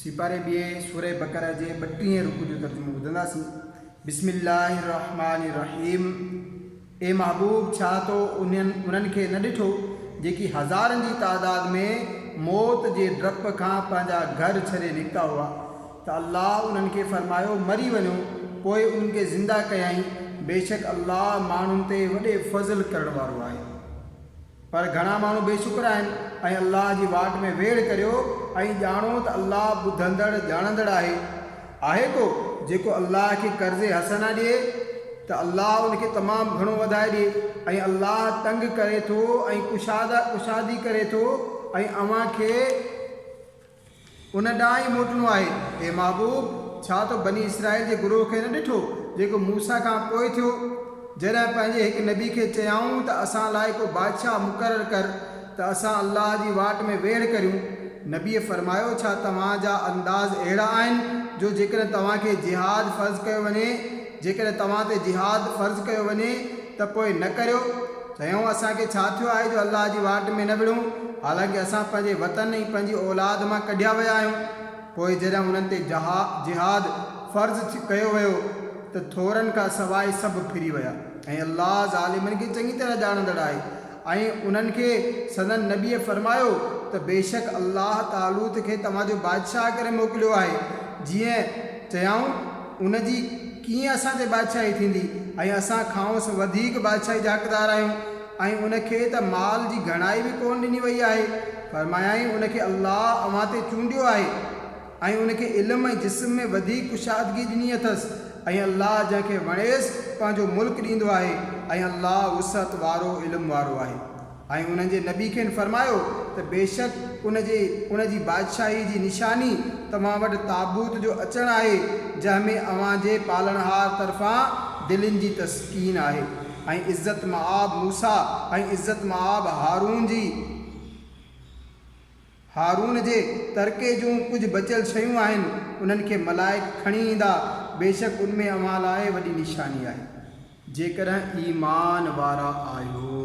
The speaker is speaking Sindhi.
سيپاري ٻيئي سورة بقرة جي ٻٽيهين رڪوع جو ترجمو ٻڌنداسين، بسم الله الرحمٰن الرحيم اي محبوب ڇا تو انهن انهن کي نه ڏٺو جيڪي هزارن جي تعداد ۾ موت جي ڊپ کان پنهنجا گهر ڇڏي نڪتا هئا ته الله انهن کي فرمايو مري وڃو پوء انهن کي زنده ڪيائين بيشڪ الله ماڻهن تي وڏي فضل ڪرڻ وارو آهي. پر گهڻا ماڻهو بي شڪر آهن ۽ الله جي واٽ ۾ ويڙهه ڪريو ۽ ڄاڻو ته الله ٻڌندڙ ڄاڻندڙ آهي. آهي ڪو جيڪو الله کي قرض حسنه ڏئي ته الله ان کي تمام گهڻو وڌائي ڏئي ۽ الله تنگ ڪري ٿو ۽ ڪشاده ڪشادي ڪري ٿو ۽ اوهان کي ان ڏانهن ئي موٽڻو آهي. اي محبوب! ڇا تو بني اسرائيل جي گروهه کي نه ڏٺو، جيڪو موسيٰ کان پوء ٿيو، جڏهن پنهنجي هڪ نبي کي چيائون ته اسان لاء ڪو بادشاهه مقرر ڪر ته اسان الله جي واٽ ۾ ويڙهه ڪريون. نبيء فرمايو، ڇا توهان جا انداز اهڙا آهن جو جيڪڏهن توهان کي جهاد فرض ڪيو وڃي، جيڪڏهن توهان تي جهاد فرض ڪيو وڃي ته پوء نه ڪريو، چيائون، اسان کي ڇا ٿيو آهي جو الله جي واٽ ۾ نه وڙهون، حالانڪه اسان پنهنجي وطن ۽ پنهنجي اولاد مان ڪڍيا ويا آهيون. پوء جڏهن انهن تي جهاد فرض ڪيو ويو ته ٿورن کان سواء سڀ ڦري ويا ۽ الله ظالمن کي چڱي طرح ڄاڻندڙ آهي ۽ انهن کي سندن نبيء فرمايو ته بيشڪ الله طالوت کي توهان جو بادشاهه ڪري موڪليو آهي جيئن چيائون ان جي ڪيئن اسان تي بادشاهي ٿيندي ۽ اسان کانئس وڌيڪ بادشاهي جا حقدار آهيون ۽ ان کي ته مال جي گهڻائي به ڪونه ڏني وئي آهي. فرمايائين، ان کي الله اوهان تي چونڊيو آهي ۽ ان کي علم ۽ جسم ۾ وڌيڪ ڪشادگي ڏني اٿس ۽ الله جنهن کي وڻيس پنهنجو ملڪ ڏيندو آهي ۽ الله وسعت وارو علم وارو آهي. ۽ انهن جي نبي کين فرمايو ته بيشڪ ان جي، ان جي بادشاهي جي، نشاني توهان وٽ تابوت جو اچڻ آهي جنهن ۾ اوهان جي پالڻهار طرفان دلين جي تسڪين آهي ۽ عزت مآب موسيٰ ۽ عزت مآب هارون جي، هارون جي، ترڪي جون ڪجهه بچيل شيون آهن انهن کي ملائڪ کڻي ايندا بيشڪ ان ۾ اوهان لاء وڏي نشاني آهي جيڪڏهن ايمان وارا آهيو.